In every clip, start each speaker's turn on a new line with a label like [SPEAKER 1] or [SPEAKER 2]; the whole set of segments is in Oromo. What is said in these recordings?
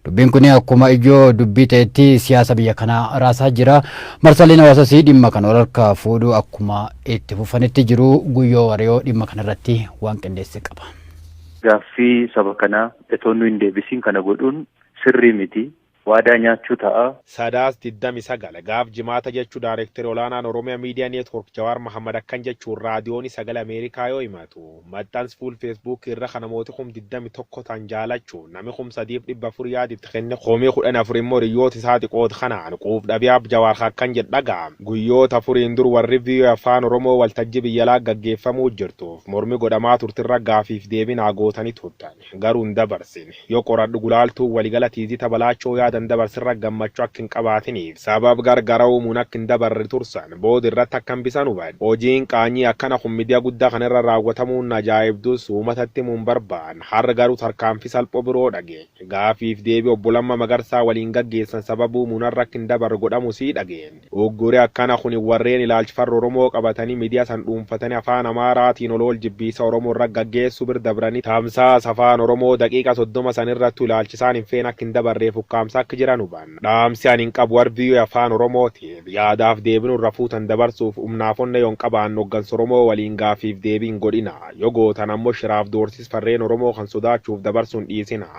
[SPEAKER 1] Dubbiin kun akkuma ijoo dubbii ta'etti siyaasa biyya kanaa raasaa jira. Marsaaleen hawaasaas dhimma kana wal harkaa fuudhuu akkuma itti fufanitti jiru. Guyyoo Wariyoo dhimma kanarratti waan qindeesse qaba. Gaaffii
[SPEAKER 2] saba kanaa itoo nu hin deebisiin kana godhuun sirrii miti. Waadaa nyaachuu ta'a. Sadaas
[SPEAKER 3] 29, gaaf Jimaata jechuu Daarekteri Olaanaan Oromia Media Network Jawaar Mahaammad akkan jechuun Raadiyooni Sagalee Ameerikaa yoo himatu. Maxxans full Facebook irra ka namooti kum 21 tan jaalachu, nami kum 3 fi 400 yaad itti kenne, kumi 14 immoo hiriyyoota isaati qood kanaan quuf dhabi Aab Jawaar ka akkan jedh dhaga'a. Guyyoota afuriin dur warri voa Afaan Oromoo waltajji biyyalaa gaggeeffamuu jirtuuf mormi godhamaa turtirra gaafiif deebii naa gootani turtan. Garuu hin dabarsin. Yoo qoradhu gulaaltuun waligala Tiizita Balaachoo yaada hin dabarsin irra gammachu akka hin qabaatiniif sabab gar gara uumuun akka hin dabarre tursan booda irratti akka hambisan hubadhu. Hojiin qaanyii akkana kun midiya gudda kana irra raawwatamuun na ajaa'ibdus uumatatti himu hin barbaadne. Har'a garuu tarkaanfi salpho biroo dhageenye. Gaaffiif deebii Obbo Lamma Magarsaa waliin gaggeessan sabab uumuun har'a akka hin dabarre godhamu sii dhageenye. Ugguri akkana kuni warreen ilaalch farra Oromoo qabatanii midiya san dhuunfatanii afaan Amaaraa tiin olool jibbiinsa Oromoo irra gaggeessuu bir dabranii tamsaasa afaan Oromoo daqiiqa 30 san irrattu ilaalch isaan hin feene akka hin dabarreef ukkaamsa akk jiran hubanna. Dhaamsi ani hin qabu warr voa afaan Oromoo tiif yaadaaf deebinu irra fuutan dabarsuuf umnaaf onnee yoon qabaanne hoggansa Oromoo waliin gaaffiif deebii hin godhina. Yoo gootan ammo shiraaf doorsiis farreen Oromoo kan sodaachuuf dabarsu hin dhiisina.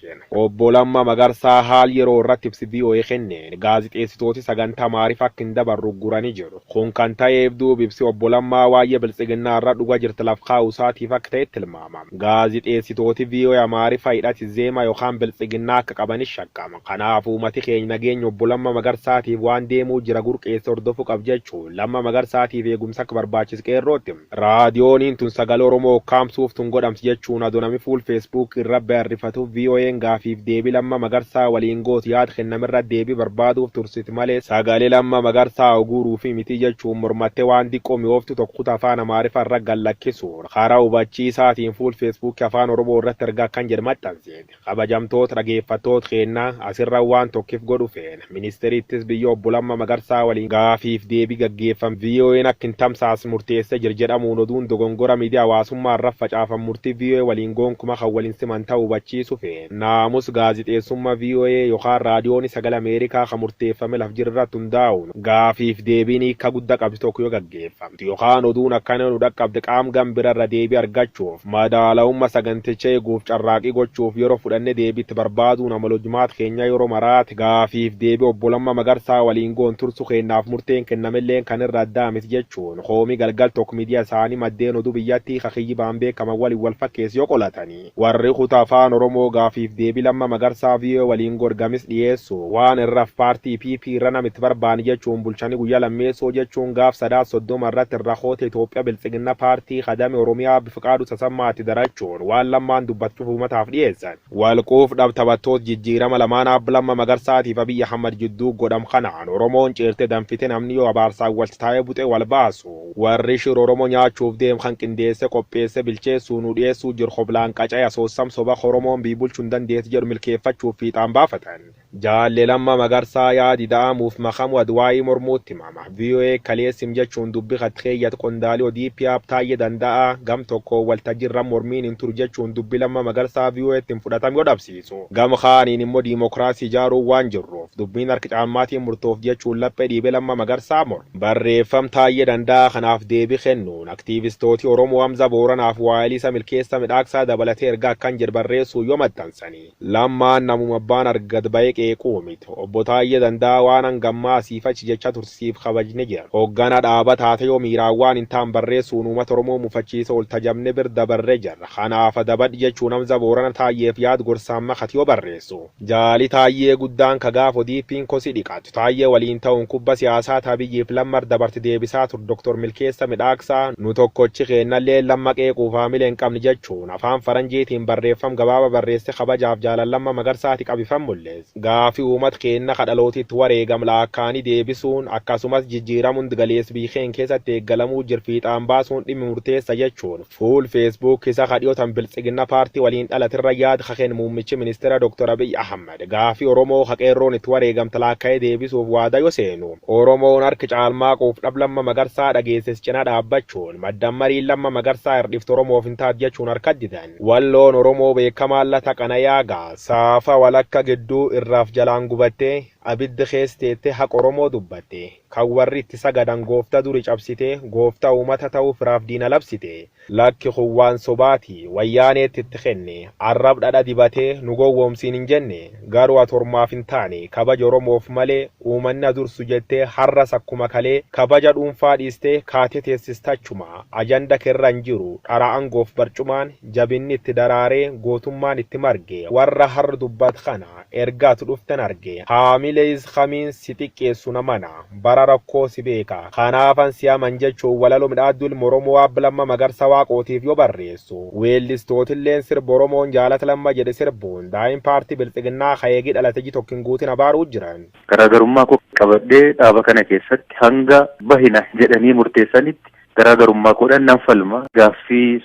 [SPEAKER 3] keene. Obbo Lammaa Magarsaa haal yeroo irratti ibsi voa kenneen gaazixeessitooti sagantaa maarif akka hin dabarre uggurani jedhu. Kun kan ta'eef duubi ibsi obbo Lammaa waayye biltsiginnaa irra dhuga jirti laf kaa'u isaatiif akka ta'e tilmaama. Gaazixeessitooti voa Amaarifa hidhati Zema yokaan biltsiginnaa akka qabani shakkama. Kanaaf uumati keeny nageenya obbo Lamma Magarsaatiif waan deemuu jira gurqeesse hordofu qab jechuun Lamma Magarsaatiif eegumsa akka barbaachisu Qeerrootti hima. Raadiyooniin tun sagalee Oromoo ukkaamsuuf tun godhamti jechuun adoo nami fuul Facebook irra bayarrifatu VOAn gaafiif deebii Lamma Magarsaa waliin gootu yaad kennamerra deebii barbaaduuf tursiti malee sagalee Lamma Magarsaa uguuruufi mitii jechuun mormattee waan diqqoo mi'ooftu tokko kutaa Afaan Amaarifaa irra gad lakkisuun karaa hubachiisaatiin fuul Facebook Afaan Oromoo irratti ergaa akkan jedhu maxxansite. Kabajamtoot dhageeffattoot keenna, asirra waan tokkif godhu feena. Ministeeri Ittis Biyya Obbo Lamma Magarsaa waliin gaafiif deebi gaggeeffam VOAn akka hin tamsaasn murteesse jir jedhamuun oduun dogongora miidiya hawaasummaa irraf facaafam murti voa waliin goonkuma kan wal hin siman ta'u hubachiisu feena. Naamus gaazixeessumma voa yokaan Raadiyooni Sagal Ameerikaa kan murteeffame laf jir irratt hundaa'uun. Gaafiif deebiin hiikka gudda qabdu tokko yoo gaggeeffamte yokaan oduun akkana nu dhaqqabde qaam gam bira irra deebii argachuuf madaalawumma saganticha eeguuf carraaqii gochuuf yero fudhanne deebii itti barbaaduun amala hojmaata keenyaa yero maraati. Gaafiif deebii Obbo Lamma Magarsaa waliin goon tursu keennaaf murteen kennamelleen kan irra addaa miti jechuun koomii Galgal Tok Media isaanii maddeen oduu biyyattii ka kiyyibaan beekaman waliin wal fakkeessu yoo qolatani. Warri kuta Afaan Oromoo gaafiif deebi Lamma Magarsaa voa waliin god gamis dhiyeessu waan irraf paartii PP irra nam itti barbaani jechuun bulchani guyya lammeessoo jechuun gaaf Sadaasa 30 irratti irra koota Itoophiya Biltsiginna paartii ka dame Oromiyaa Aabbi Fiqaaduu Tasammaa itti darachuun waan Lammaan dubbatu cufa umataaf dhiyeessan. Wal quuf dhab taphattoot jijjiirama lamaan Aab Lamma Magarsaatiif Abiy Ahmad jidduu godham kanaan Oromoon ciirte danfite namni yoo abaarsaan walti taa'ee buxee wal baasu. Warri shir oromo nyaachuuf deem kan qindeesse qopheesse bilcheessuu nuu dhiyeessuu jir hoblaan qaca'e asoossam soba horomoon biy bulchu hin dandeessi jedhu milkeeffachuuf fiixaan baafatan. Jaalle Lamma Magarsaa yaadi da'amuuf makamu Adwaayii mormuutti himama. Voa kalee sim jechuun dubbi katti keeyyate qondaali odp Aab Taayye Danda'aa gam tokkoon waltajjirra mormiin hin turu jechuun dubbi Lamma Magarsaa VOAtti hin fudhatam yoo dhabsiisan. kabachiisu. Gama kaaniin immoo diimokiraasii ijaaruun waan jirruuf dubbiin harki caalmaatiin murtoofti jechuun laphee dhiibee Lammaa Magarsaa morme. Barreeffam Taayyee Danda'aa kanaaf deebii kennuun aktiivistooti Oromoo Hamza Booranaa fi Waayiliisa Milkeessa Midhaaksaa dabalatee ergaa akkan jedh barreessuun yoo maxxansani. Lammaan namuma abbaan arge gad ba'ee qeequu mit. Obbo Taayyee Danda'aa waan hanga ammaa asiif achi jechaa turte siif kabajne jirra. Hogganaa dhaabaa taatee yoo miiraan waan hin taan barreessuun uumata Oromoo mufachiisa oolta jabne bir dabarre jirra. Kanaaf Dabadh jechuun Hamza Boorana Taayyeef yaad gorsaan makati yoo barreessu. Jaali Taayyee guddaan ka gaaf ODPn kosii dhiqattu Taayyee waliin ta'uun kubba siyaasaa ta Abiyyiif Lammar dabarte deebisaa ture Dr. Milkeessa Midhaaksaa nu tokkochi keennalleen Lamma qeequuf haamile hin qabne jechuun afaan faranjiitiin barreeffam gabaaba barreesse kabajaaf jaalal Lamma Magarsaati qabifam mul'ise. Gaafi uumat keenna ka dhalooti itti wareegam laakkaani deebisuun akkasumas jijjiiram hund galeess biyy keenna keessatti eeggalamuu jir fiixaan baasuun dhimmi murteessa jechuun Fuul Facebook isa ka dhiyoo tan Biltsiginna Paartii waliin dhalatirra yaad ka keen muummichi ministeera Dr. Abiy Ahmad gaafii Oromoo ka Qeerroon itti wareegamte laakka'ee deebisuuf waada yo seenu, Oromoon hark caalmaaquuf dhab Lamma Magarsaa dhageesses cina dhaabbachuun maddan mariin Lamma Magarsaa hirdhiftu Oromoof hin taat jachuun harkatti didan. Walloon Oromoo beekamaan Lata Qanayaa ga. Saafa walakka gidduu irraaf jalaan gubattee, abiddi kees teettee haq Oromoo dubbatte. Kan warri itti sagadan goofta duri cabsite, goofta uumata ta'uu firaaf diina labsite. Lakki kun waan sobaati. Wayyaaneetti itti kenne. Arrab dhadha dibate, nu gowwoomsiin hin jenne. Garuu ati ormaaf hin taane. Kabaja Oromoof malee, uumanni ha dursu jettee harras akkuma kalee, kabaja dhuunfaa dhiiste kaate teessista achuma. Ajanda ke irra hin jiru. Dhara angoof barcumaan, jabinni itti daraaree, gootummaan itti marge. Warra harr dubbat kana, Erga ati dhuften arge. Haamilees kamiin si xiqqeessu na mana. Bara rakkoo si beeka. Kanaafan si aman jechuun walaloo midhaadduu ilma Oromoo Aab Lamma Magarsa Waaqootiif yoo barreessu, weellistootilleen sirba Oromoon Jaalat Lamma jedhe sirbuun daa'im paartii bilxiginnaa ka eegii dhalate iji tokko hin guutin abaaruu jiran. Garaagarummaa koo
[SPEAKER 2] qabadhee dhaaba kana keessatti hanga bahina jedhanii murteessanitti garaagarummaa koodhan nan falma. Gaaffii.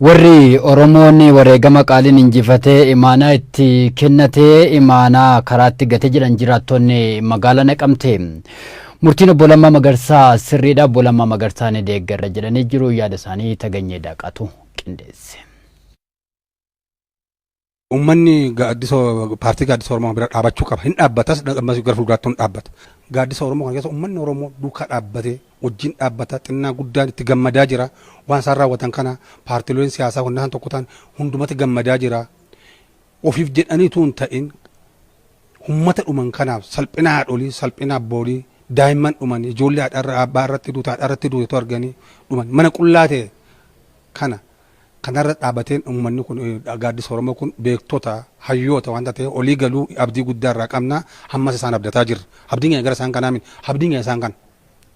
[SPEAKER 2] Warri
[SPEAKER 1] Oromoon wareegama qaaliin injifatee imaanaa itti kennate imaanaa karaatti gate jedhan jiraattonni magaalaa Naqamtee. Murtiin obbo Lammaa Magarsaa sirriidha obbo Lammaa Magarsaa ni deeggarra jedhanii jiru yaada isaanii Taganyee Daaqaatu qindeesse.
[SPEAKER 4] Uummanni gaaddisa paartii gaaddisa Oromoo bira dhaabachuu qaba. Hin dhaabbatas ammas gara fuulduraatti hin dhaabbata. Gaaddisa Oromoo kana keessa uummanni Oromoo duukaa dhaabbatee wajjin dhaabbata xinnaa guddaan itti gammadaa jira. Waan isaan raawwatan kana paartileen siyaasaa hunda isaan tokko ta'an hundumatti gammadaa jira. Ofiif jedhanii utuu hin ta'in uummata dhuman kanaaf salphina haadholii, salphina abboolii, daa'imman dhuman, ijoollee haadha irra abbaa irratti duute, haadha irratti duute utuu arganii dhuman mana qullaa ta'e kana kanarra dhaabateen ummanni kun gaaddisa Oromoo kun beektota, hayyoota waan ta'eef olii galuu abdii guddaa irraa qabna. Hammas isaan abdataa jirra. Abdiin keenya gara isaan kanaa miti. Abdiin keenya isaan kana.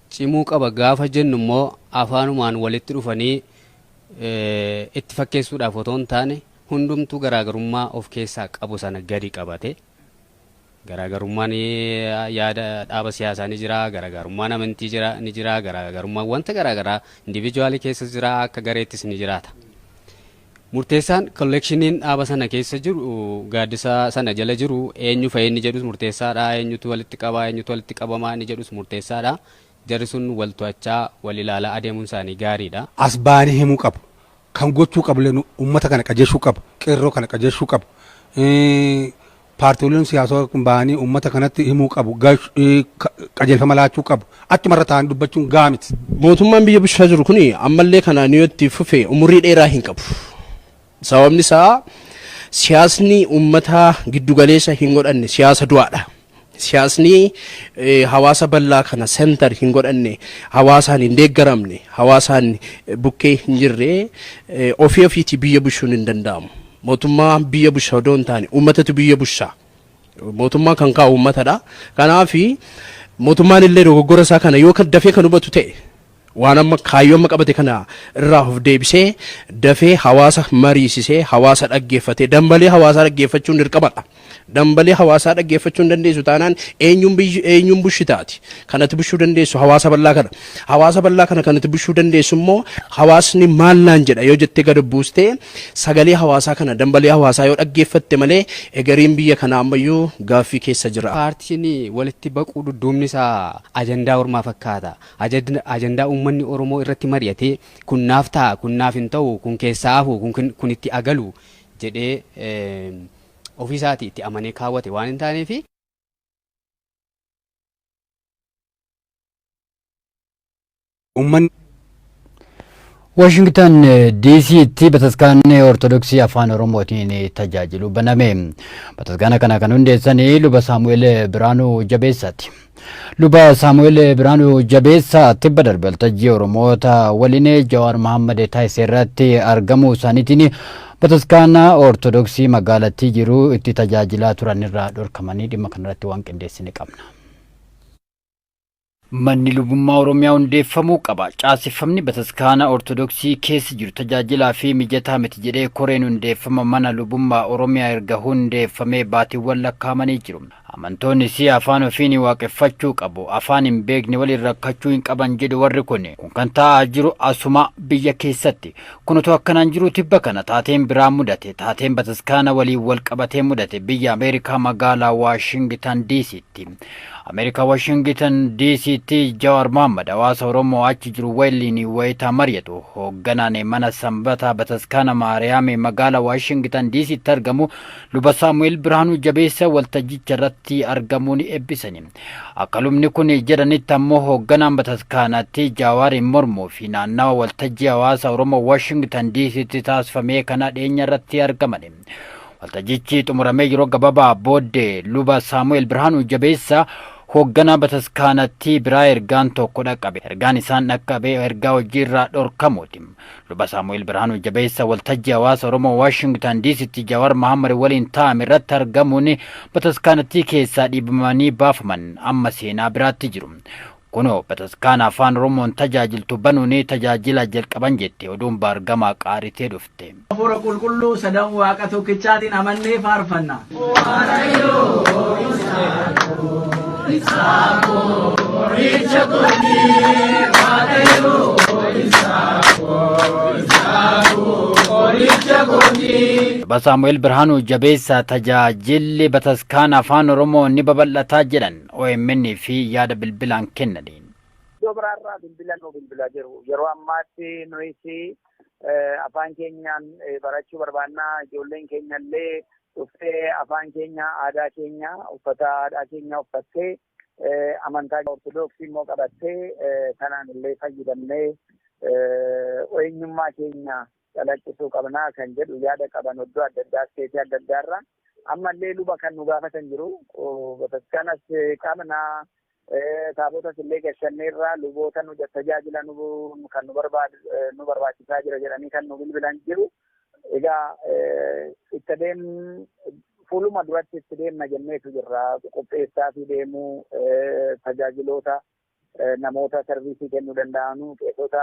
[SPEAKER 4] cimuu qaba
[SPEAKER 5] gaafa jennu immoo afaanumaan walitti dhufanii itti fakkeessuudhaaf otoo hin taane hundumtuu garaagarummaa of keessaa qabu sana gadi qabate Garaagarummaan yaada dhaaba siyaasaa ni jira, garaagarummaan amantii jira, ni jira, garaagarummaan wanta garaagaraa individually keessas jira, akka gareettis ni jiraata. Murteessaan kolleekshiniin dhaaba sana keessa jiru gaaddisa sana jala jiru eenyu fa'i inni jedhus murteessaadha, eenyutu walitti qaba, eenyutu walitti qabama inni jedhus murteessaadha. Jarri sun wal to'achaa, wal ilaalaa adeemuun isaanii gaariidha. As ba'anii himuu
[SPEAKER 4] qabu. Kan gochuu qabulleen uummata kana qajeeshuu qabu. Qeerroo kana qajeeshuu qabu. Paartiiwwan siyaasaa kun bahanii uummata kanatti himuu qabu. Qajeelfama laachuu qabu. Achumarra taa'anii dubbachuun gahaa miti. Mootummaan biyya bulchaa
[SPEAKER 6] jiru kun ammallee kanaan yoo itti fufe umurii dheeraa hin qabu. Sababni isaa siyaasni uummataa giddugaleessa hin godhanne siyaasa du'aadha. Siyaasni hawaasa bal'aa kana center hin godhanne, hawaasaan hin deeggaramne, hawaasaan bukkee hin jirre ofii ofiitii biyya bushuun hin danda'amu. Mootummaa biyya busha odoo hin taane uummatatu biyya busha. Mootummaa kan kaa'u uummatadha. Kanaaf mootummaan illee dogoggora isaa kana yoo dafee kan hubatu ta'e Waan amma kaayyoo amma qabate kana irraa of deebisee dafee hawaasa mariisisee hawaasa dhaggeeffatee dambalee hawaasaa dhaggeeffachuun dirqamadha. Dambalee hawaasaa dhaggeeffachuu hin dandeessu taanaan eenyuun biyyi eenyuun bushi taati. Kan ati bushuu dandeessu hawaasa bal'aa kana. Hawaasa bal'aa kana kan ati bushuu dandeessu immoo hawaasni maal naan jedha yoo jettee gad buustee sagalee hawaasaa kana dambalee hawaasaa yoo dhaggeeffatte malee egeriin biyya kanaa ammayyuu gaaffii keessa jira. Paartiin walitti
[SPEAKER 5] baquu dudduubni isaa ajandaa ormaa fakkaata. Ajandaa uummanni Oromoo irratti mari'atee kun naaf ta'a, kun naaf hin ta'u, kun keessaa hafu, kun itti haa galu jedhee ofii isaatii itti amanee kaawwate waan hin taaneef,
[SPEAKER 1] Washingtan DC'tti bataskaanni Ortodoksii Afaan Oromootiin tajaajilu baname. Bataskaana kana kan hundeessan luba Saamu'eel Biraanuu Jabeessaati. Luba Saamu'eel Biraanuu Jabeessaa tibba darbe waltajjii Oromoota waliin Jawaar Mahaammad taasise irratti argamuu isaaniitiin bataskaana Ortodoksii magaalattii jiru itti tajaajilaa turan irraa dhorkamanii dhimma kanarratti waan qindeessine qabna. Manni lubummaa Oromiyaa hundeeffamuu qaba. Caaseffamni bataskaana Ortodoksii keessa jiru tajaajilaa fi mijataa miti jedhee koreen hundeeffama mana lubummaa Oromiyaa erga hundeeffamee baatiwwan lakkaa'amanii jiru. Amantoonnis afaan ofiin waaqeffachuu qabu, afaan hin beekne waliin rakkachuu hin qaban jedhu warri kun. Kun kan ta'aa jiru asuma biyya keessatti. Kun otoo akkanaan jiruu tibba kana taateen biraa mudate. Taateen bataskaana waliin wal qabatee mudate biyya Ameerikaa magaalaa Waashingitan Diisiitti. Tti. Ameerikaa Washingitan DCtti Jawaar Mohammad hawaasa Oromoo achi jiru waliin wayita mari'atu hoogganaan mana Sanbataa Bataskaana Maariyaam magaala Waashingitan DCtti argamu luba Saamu'eel Birhaanuu Jabeessa waltajjicha irratti argamuun eebbisani. Akka lubni kun jedhanitti ammoo hoogganaan bataskaanatti Jawaariin mormuu fi naannawa waltajjii hawaasa Oromoo Waashingitan DCtti taasifamee kana dhiyeenya irratti argamani. Waltajjichi xumuramee yeroo gababaa booddee luba Saamu'eel Birhaanuu Jabeessaa hoogganaa bataskaanattii biraa ergaan tokko dhaqqabe. Ergaan isaan dhaqqabe ergaa hojii irraa dhorkamuuti. Luba Saamu'eel Birhaanuu Jabeessa waltajjii hawaasa Oromoo Waashingtan Diisitti Jawaar Mahammad waliin taa'ame irratti argamuun bataskaanattii keessaa dhiibamanii baafaman amma seenaa biraatti jiru. Kunoo bataskaana afaan Oromoon tajaajiltu banuunii tajaajila jalqaban jetti oduun baargamaa qaaritee dhufte.
[SPEAKER 7] Hafuura Qulqulluu sadan Waaqa tokkichaatiin amannee faarfanna. Luba Saamu'eel Birhaanuu jabeessaa tajaajilli bataskaana afaan Oromoo ni babal'ataa jedhan. omn fi yaada bilbilaan kennaniin. Iddoo biraarraa
[SPEAKER 8] bilbila nuu bilbilaa jiru. Yeroo ammaatti nuyis afaan keenyaan barachuu barbaanna. Ijoolleen keenyallee dhuftee afaan keenya, aadaa keenya, uffata aadaa keenya uffattee, amantaa Ortodoksii immoo qabattee kanaan illee fayyadamnee eenyummaa keenya calaqqisuu qabna kan jedhu yaada qaban oddoo adda addaa isteetii adda addaa irra ammallee luba kan nu gaafatan jiru bataskaanas qabna taabotas illee gashannee irraa luboota nu tajaajila kan nu barbaachisaa jira jedhanii kan nu bilbilan jiru egaa itti deem fuuluma duratti itti deemna jenneetu jirra qopheessaa fi deemuu tajaajiloota namoota sarviisii kennuu danda'anu qeesota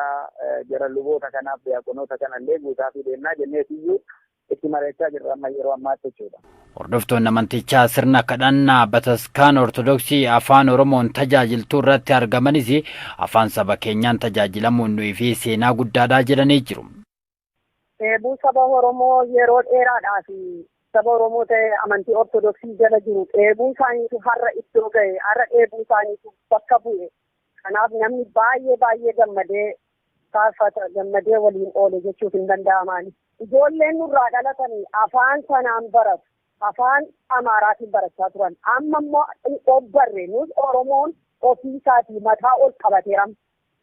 [SPEAKER 8] jara luboota kanaaf diyaaqonoota kanallee guutaafii deemnaa jenneetiyyuu itti mari'achaa jirra amma yeroo ammaatti jechuudha. Hordoftoonni amantichaa
[SPEAKER 1] sirna kadhannaa bataskaana Ortodoksii Afaan Oromoon tajaajiltuu irratti argamanis afaan saba keenyaan tajaajilamuun nuyi fi seenaa guddaadhaa jedhanii jiru. Dheebuu
[SPEAKER 9] saba Oromoo yeroo dheeraadhaaf saba Oromoo ta'ee amantii Ortodoksii jala jiru dheebuu isaaniitu har'a iddoo ga'e, har'a dheebuu isaaniitu bakka bu'e. Kanaaf namni baay'ee baay'ee gammadee faarfata, gammadee waliin oole jechuuf hin danda'ama ani. Ijoolleen nurraa dhalatan afaan sanaan baratu. Afaan Amaaraatiin barachaa turan. Amma immoo ogbarre nus Oromoon ofii isaatii mataa ol qabateera.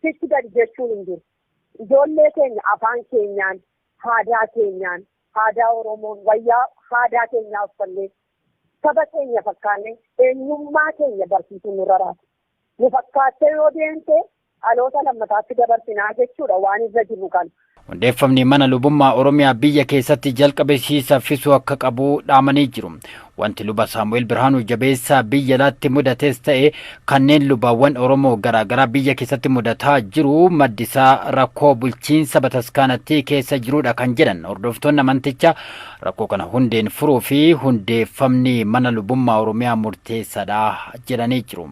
[SPEAKER 9] Sichi gadi jechuun hin jiru. Ijoollee keenya afaan keenyaan, haadaa keenyaan, haadaa Oromoon, wayyaa haadaa keenyaa uffannee, saba keenya fakkaannee eenyummaa keenya barsiisuun nurra raasa. Nu fakkaattee yoo deemte dhaloota lammataatti dabarsinaa jechuudha waan irra jirru kana. Hundeeffamni mana
[SPEAKER 1] lubummaa Oromiyaa biyya keessatti jalqabe sii saffisuu akka qabu dhaamanii jiru. Wanti luba Saamu'eel Birhaanuu Jabeessaa biyya alaatti mudates ta'e kanneen lubaawwan Oromoo garaagaraa biyya keessatti mudataa jiru maddi isaa rakkoo bulchiinsa bataskaanattii keessa jiruudha kan jedhan hordoftoonni amanticha rakkoo kana hundeen furuu fi hundeeffamni mana lubummaa Oromiyaa murteessaadha jedhanii jiru.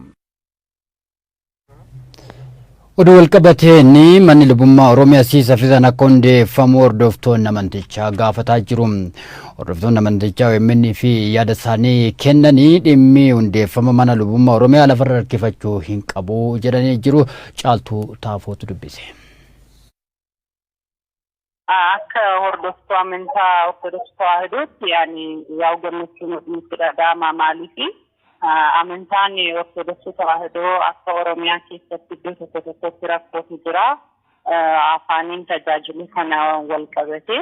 [SPEAKER 1] Oduu walqabateen manni lubummaa Oromiyaa sii saffisaan akka hundeeffamu hordoftoonni amantichaa gaafataa jiru. Hordoftoonni amantichaa OMN fi yaada isaanii kennanii dhimmi hundeeffama mana lubummaa Oromiyaa lafarra harkifachuu hin qabu jedhanii jiru. Caaltuu Taafootu dubbise.
[SPEAKER 10] Akka hordoftuu amantaa Ortodoksii Tawaahidootti ani yaa gammachuun nutti dhaga'ama maaliifi amantaan Ortodoksii Tawaahidoo akka Oromiyaa keessatti iddoo tokko tokkotti rakkootu jira. Afaaniin tajaajiluu kana wal qabatee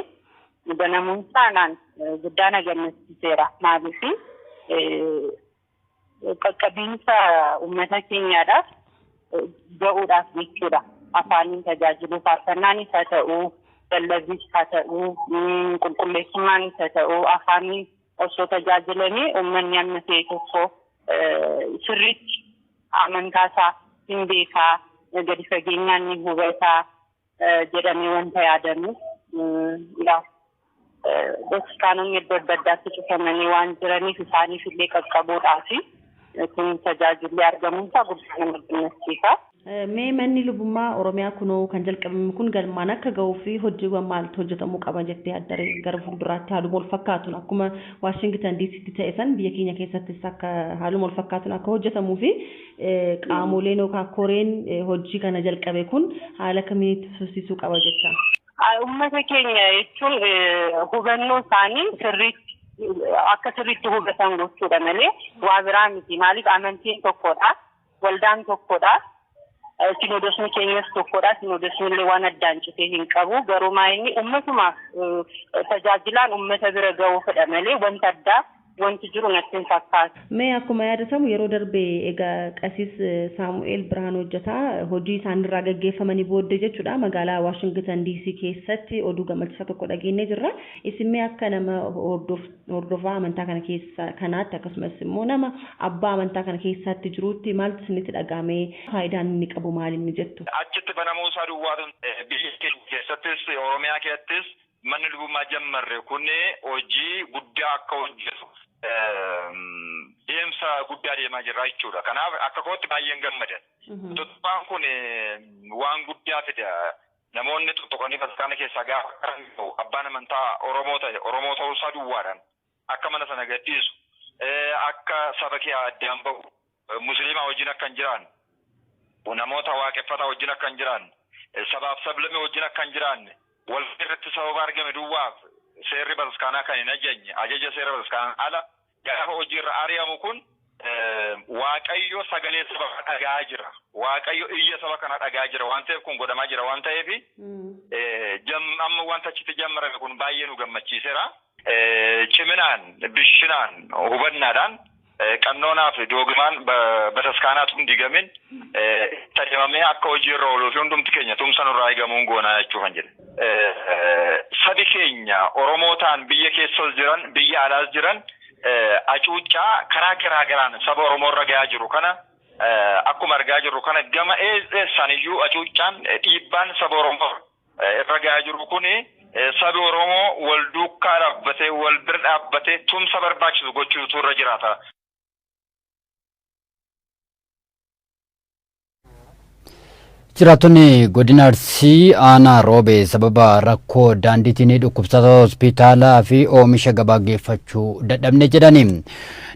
[SPEAKER 10] banamuun isaa naan guddaa na gammachiiseera maaliifi Qaqqabiinsa uummata keenyaadhaaf ga'uudhaaf jechuudha. Afaaniin tajaajiluu faarfannaanis haa ta'uu, lallabnis haa ta'uu, qulqulleessummaanis haa ta'uu afaaniin osoo tajaajilanii uummanni amma ta'e tokko sirriitti amantaasaa hin beekaa, gadi fageenyaan ni hubataa, jedhamee wanta yaadamuuf yaa hospitaalonni iddoo adda addaatti cufamanii waan jiraniif isaaniif illee qaqqabuudhaa fi kun tajaajilli argamuun isaa guddaa nama gammachiisa. Mee manni
[SPEAKER 11] lubummaa Oromiyaa kunoo kan jalqabame kun galmaan akka ga'uu fi hojiiwwan maaltu hojjetamuu qaba jettee addaree gara fuulduraatti haaluma wal fakkaatuun akkuma Waashingitan DCtti ta'e san biyya keenya keessattis akka haaluma wal fakkaatuun akka hojjetamuu fi Qaamoleen yookaan koreen hojii kana jalqabe kun haala kamiin itti fufsiisuu qaba jetta? Uummata
[SPEAKER 10] keenya jechuun hubannoo isaanii sirriitti akka sirriitti hubatan gochuudha malee waa biraa miti. Maaliif amantiin tokkodha, waldaan tokkodha, sinoodosni keenyas tokkodha. Sinoodosni illee waan addaan citee hin qabu. Garuu maa inni uummatumaaf tajaajilaan uummata bira ga'uufidha malee wanta addaa wanti jiru natti hin fakkaatu. Mee akkuma yaadatamu
[SPEAKER 11] yeroo darbe egaa Qasiis Saamu'eel Birhaan Hojjetaa hojii isaanirraa gaggeeffamanii booddee jechuudha magaalaa Waashingitan DC keessatti oduu gammachiisaa tokko dhageennee jirra. Isin mee akka nama hordofaa amantaa kana keessa kanaatti akkasumas immoo nama abbaa amantaa kana keessaatti jiruutti maaltu isinitti dhaga'ame? Faayidaan inni qabu maali inni jettu? Achitti banamuu isaa
[SPEAKER 12] duwwaatu biyya keenya keessattis Oromiyaa keessattis Manni lubummaa jammarre kun hojii guddaa akka hojjetu deemsa guddaa deemaa jirra jechuudha. Kanaaf akka kootti baay'een gammada. Tuttuqaan kun waan guddaa fida. Namoonni tuttuqanii bataskaana keessaa gaafa qalan abbaan amantaa Oromoo ta'e Oromoo ta'uu isaa duwwaadhaan akka mana sana gad dhiisu, akka saba kee addaan bahu, Musliima wajjin akka hin jiraanne, namoota waaqeffataa wajjin akka hin jiraanne, sabaaf sablammii wajjin akka hin jiraanne walgahii irratti sababa argame duwwaaf seerri bataskaanaa kan hin ajajne, ajaja seera bataskaanaan ala gaafa hojii irra ari'amu kun Waaqayyo sagalee saba kana dhaga'aa jira. Waaqayyo iyya saba kana dhaga'aa jira waan ta'eef kun godhamaa jira waan ta'eef amma wanta achitti jammarame kun baay'ee nu gammachiisera. Ciminaan, bishinaan, hubannaadhaan qannoonaa fi doogimaan bataskaanaatu hin digamin itti adeemamee akka hojii irra ooluu fi hundumti keenya tumsa nurraa eegamuun goonaa jechuufan jedhe. Sabi keenya Oromootaan biyya keessas jiran biyya alaas jiran Acuuccaa karaa garaa garaan saba Oromoo irra gayaa jiru kana akkuma argaa jirru kana gama eessaan iyyuu acuuccaan dhiibbaan saba Oromoo irra gayaa jiru kun sabi Oromoo wal duukkaa dhaabbatee wal bira dhaabbatee tumsa barbaachisu gochuutu irra jiraata.
[SPEAKER 1] Jiraattonni godina Arsii aanaa Roobee sababa rakkoo daandiitiin dhukkubsataa hospitaalaa fi oomisha gabaa geeffachuu dadhabne jedhani.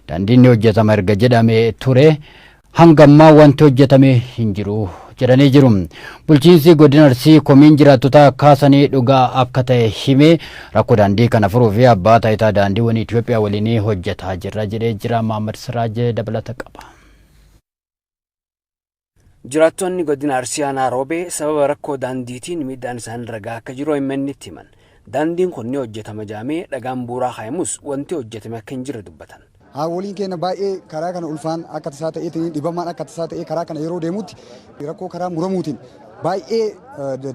[SPEAKER 1] Daandiin ni hojjetama erga jedhamee ture hanga ammaa wanti hojjetame hin jiru jedhanii jiru. Bulchiinsi godina Arsii komiin jiraattotaa kaasanii dhugaa akka ta'e himee rakkoo daandii kana furuu fi abbaa taayitaa daandiiwwan Itoophiyaa waliin hojjetaa jirra jedhee jira. Maamad Siraajee dabalata qaba.
[SPEAKER 5] Jiraattoonni godina Arsii Aanaa Roobee sababa rakkoo daandiitiin miidhaan isaanirra gahaa akka jiru OMNtti himan. Daandiin kun ni hojjetama jedhamee dhagaan bu'uuraa kaayamus wanti hojjetame akka hin jirre dubbatan. Haawwoliin keenya
[SPEAKER 13] baay'ee karaa kana ulfaan akka tasaa ta'eetiin dhibamaan akka tasaa ta'ee karaa kana yeroo deemutti rakkoo karaa muramuutiin baay'ee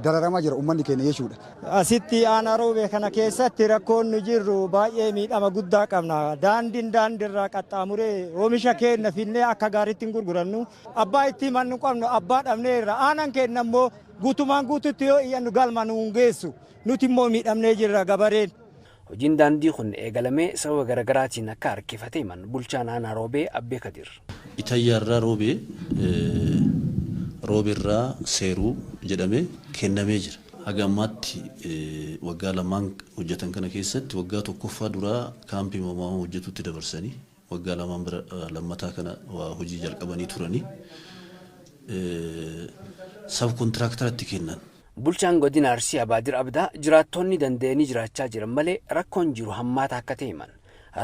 [SPEAKER 13] dararamaa jira uummanni keenya jechuudha. Asitti aanaa
[SPEAKER 14] Roobee kana keessatti rakkoon nu jirru baay'ee miidhama guddaa qabna. Daandiin daandiirraa qaxxaamuree oomisha keenya finnee akka gaariitti hin gurgurannu. Abbaa itti himannu qabnu abbaa dhabnee irra. Aanaan keenya immoo guutumaan guututti yoo iyyannu galma nu hin geessu. Nuti immoo miidhamnee jirra gabareen. Hojiin daandii
[SPEAKER 5] kun eegalamee sababa garagaraatiin akka harkifate himan bulchaan aanaa Roobee Abbee Kadiir. Itayyaarraa
[SPEAKER 15] Roobee, Rooberraa Seeruu jedhamee kennamee jira. Haga ammaatti waggaa lamaan hojjatan kana keessatti waggaa tokkoffaa duraa kaampii Mamaamoo hojjatuutti dabarsanii. Waggaa lamaan bira lammataa kana waa hojii jalqabanii turani. Sab kontiraaktaratti kennan. Bulchaan Godina
[SPEAKER 5] Arsii Abaadir Abdaa jiraattoonni danda'anii jiraachaa jiran malee rakkoon jiru hammaataa akka ta'e himan.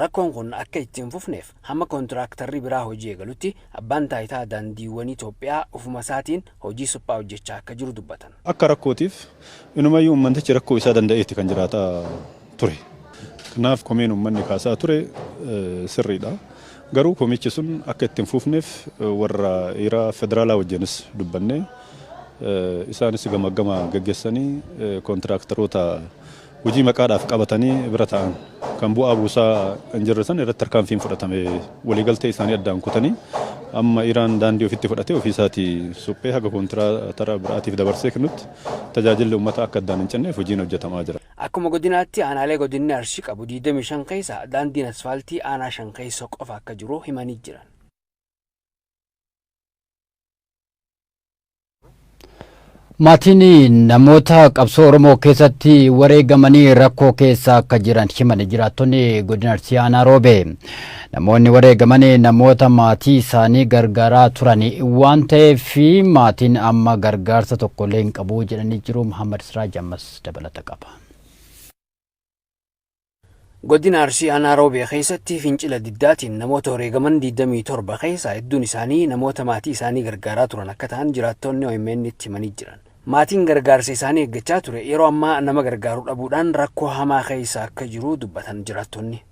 [SPEAKER 5] Rakkoon kun akka itti hin fufneef hamma kontiraaktarri biraa hojii eegalutti Abbaan Taayitaa Daandiiwwanii Itoophiyaa ofumasaatiin hojii suphaa hojjechaa akka jiru dubbatan. Akka rakkootiif
[SPEAKER 16] inumayyuu ummantichi rakkoo isaa danda'eeti kan jiraataa ture. Kanaaf komeen ummanni kaasaa ture sirriidha. Garuu komichi sun akka itti hin fuufneef warra ira federaalaa wajjinis dubbannee isaanis gamaggama gaggeessanii kontiraaktaroota Hojii maqaadhaaf qabatanii bira taa'an kan bu'aa buusaa hin jirre san irratti tarkaanfiin fudhatame. Waliigaltee isaanii addaan kutanii amma Iraan daandii ofitti fudhatee ofii isaatii suphee haga kontiraatara biraatiif dabarsee kennutti tajaajilli uummataa akka addaan hin cinneef hojiin hojjetamaa jira. Akkuma godinaatti
[SPEAKER 17] aanaalee godinni Arsii qabu 25 keessa daandiin asfaaltii aanaa 5 keessa qofa akka jiru himanii jiran.
[SPEAKER 1] Maatiin namoota qabsoo Oromoo keessatti wareegamanii rakkoo keessa akka jiran himan jiraattonni godina Arsii Aanaa Roobee. Namoonni wareegaman namoota maatii isaanii gargaaraa turan waan ta'eef maatiin amma gargaarsa tokkollee hin qabu jedhanii jiru. Muhammad Siraaj ammas dabalata qaba.
[SPEAKER 17] Godina Arsii Aanaa Roobee keessatti fincila diddaatiin namoota wareegaman 27 keessaa hedduun isaanii namoota maatii isaanii gargaaraa turan akka ta'an jiraattoonni OMN'tti himanii jiran. Maatiin gargaarsa isaanii eeggachaa ture yeroo ammaa nama gargaaru dhabuudhaan rakkoo hamaa keessa akka jiru dubbatan jiraattonni.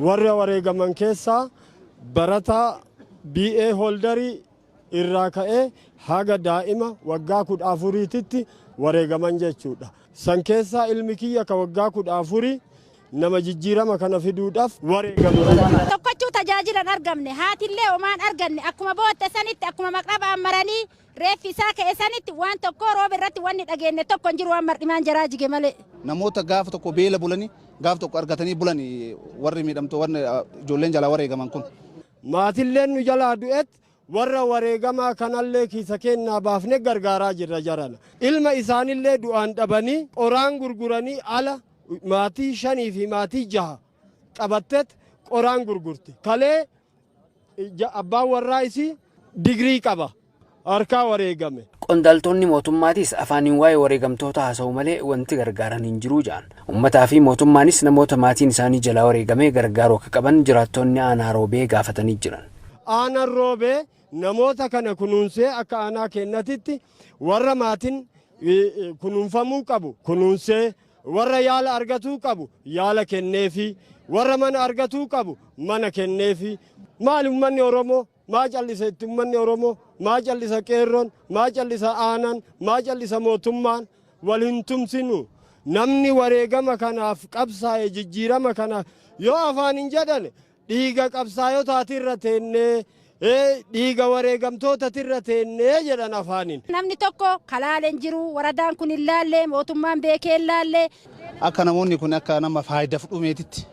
[SPEAKER 17] Warra
[SPEAKER 14] wareegaman keessaa barataa BA Hooldarii irraa ka'ee haga daa'ima waggaa 14titti wareegaman jechuudha. San keessaa ilmi kiyya ka waggaa 14 nama jijjiirama kana fiduudhaaf wareegame jechuudha. Tokkochuu tajaajila
[SPEAKER 18] hin argamne, haatillee homaa hin arganne, akkuma bootte sanitti, akkuma maqrabaan maranii reeffi isaa ka'e sanitti waan tokkoo roobe irratti wanni dhageenne tokko hin jiru waan mar'imaan jaraa jige malee. Namoota gaafa tokko
[SPEAKER 19] beela bulanii gaaf tokko argatanii bulan warri miidhamtoo warri ijoolleen jalaa wareegaman kun. Maatilleen nu
[SPEAKER 14] jalaa du'et warra wareegamaa kanallee kiisa keennaa baafne gargaaraa jirra jarana. Ilma isaanillee du'aan dhabanii qoraan gurguranii ala maatii shanii fi maatii jaha qabattet qoraan gurgurti. Kalee abbaan warraa isii digrii qaba. harkaa wareegame. Qondaaltoonni
[SPEAKER 17] mootummaatis afaaniin waa'ee wareegamtootaa haasa'u malee wanti gargaaran hin jiru jedhan. Ummataa fi mootummaanis namoota maatiin isaanii jalaa wareegame gargaaruu akka qaban jiraattoonni aanaa Roobee gaafatanii jiran. Aanaan Roobee
[SPEAKER 14] namoota kana kunuunsee akka aanaa keennatitti warra maatiin kunuunfamuu qabu kunuunsee, warra yaala argatuu qabu yaala kenneefii, warra mana argatuu qabu mana kenneefii. Maali ummanni Oromoo? Maa callise itti ummanni Oromoo? Maa callisa qeerroon? Maa callisa aanaan? Maa callisa mootummaan? Wal hin tumsinu. Namni wareegama kanaaf qabsaa'e jijjiirama kana yoo afaan hin jedhane dhiiga qabsaayotaatirra teennee dhiiga wareegamtootatirra teennee jedhan afaaniin. Namni tokko ka
[SPEAKER 18] laale hin jiru. Waradaan kun hin laalle, mootummaan beekee hin laalle. Akka namoonni
[SPEAKER 19] kun akka nama faayidaf dhumeetitti.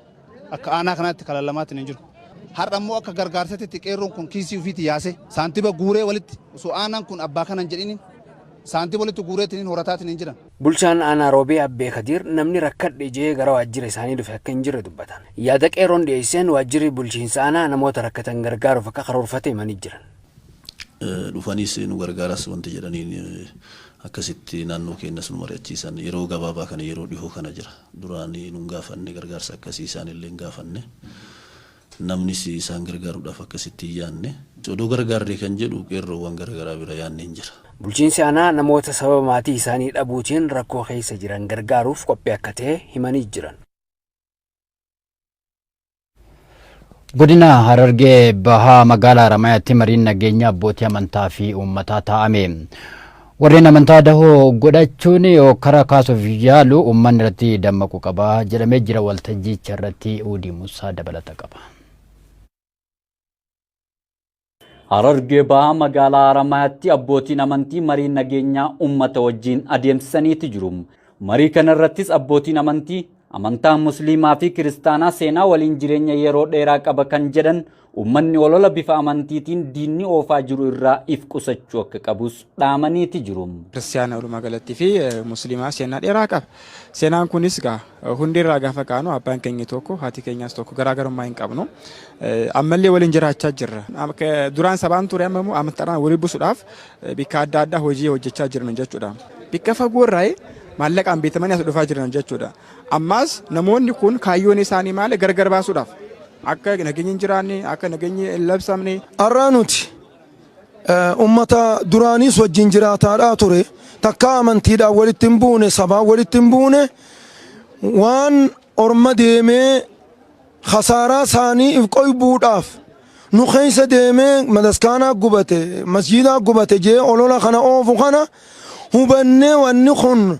[SPEAKER 19] Akka aanaa kanaatti karaa lamaatiin hin jiru. Har'a immoo akka gargaarsatitti qeerroon kun kiisii ofiitii yaasee saantiba guuree walitti osoo aanaan kun abbaa kana hin jedhiniin saantiba walitti guureetiin horataatiin hin jiran. Bulchaan aanaa Roobee
[SPEAKER 17] Abbee Kadiir namni rakkadhe jee gara waajjira isaanii dhufe akka hin jirre dubbatan. Yaada qeerroon dhiyeesseen waajjirri bulchiinsa aanaa namoota rakkatan gargaaruuf akka karoorfate himanii jiran.
[SPEAKER 15] Dhufaniis nu gargaaras wanti jedhaniin akkasitti naannoo keenyas nu mari'achiisan yeroo gabaabaa kana yeroo dhihoo kana jira. Duraan nu hin gaafanne, gargaarsa akkasii isaan illee hin gaafanne. Namnis isaan gargaaruudhaaf akkasitti hin yaanne. Odoo gargaarree kan jedhu qeerroowwan gara garaa bira yaanni hin jira. Bulchiinsi aanaa namoota
[SPEAKER 17] sababa maatii isaanii dhabuutiin rakkoo keessa jiran gargaaruuf qophii akka ta'e himanii jiran.
[SPEAKER 1] Godina Harargee Bahaa magaalaa Haramayaatti mariin nageenya abbootii amantaa fi uummataa taa'ame. Warreen amantaa dahoo godhachuun hokkara kaasuuf yaalu uummanni irratti dammaquu qaba jedhamee jira waltajjicha irratti Uudii Musaa dabalata qaba.
[SPEAKER 20] Harargee Bahaa magaalaa Haramaayaatti abbootiin amantii marii nageenyaa uummata wajjiin adeemsisaniiti jiru. Marii kana irrattis abbootiin amantii amantaan musliimaa fi kiristaanaa seenaa waliin jireenya yeroo dheeraa qaba kan jedhan uummanni olola bifa amantiitiin diinni oofaa jiru irraa if qusachuu akka qabus dhaamaniiti jiru. Kiristaana walumaa
[SPEAKER 21] galatti fi musliimaa seenaa dheeraa qaba. Seenaan kunis gaa Hundee irraa gaafa kaanu abbaan keenya tokko haati keenyaas tokko garaagarummaa hin qabnu. Ammallee waliin jiraachaa jirra. Duraan sabaan ture amma immoo amantaadhaan walii busuudhaaf bikka adda addaa hojii hojjechaa jirna jechuudha. Bikka fagoo irraa maallaqaan bitamanii as dhufaa jiran jechuudha. Ammaas namoonni kun kaayyoon isaanii maali gargar baasuudhaaf akka nageenyi hin jiraanne akka nageenyi hin labsamne. Har'aa nuti
[SPEAKER 22] Ummata duraaniis wajjin jiraataadhaa ture. Takkaa amantiidhaan walitti hin buune, sabaan walitti hin buune. Waan orma deemee khasaaraa isaanii if qoybuudhaaf nu keessa deemee mataskaanaa gubate, masjiidaa gubate jee olola kana oofu kana hubannee wanni kun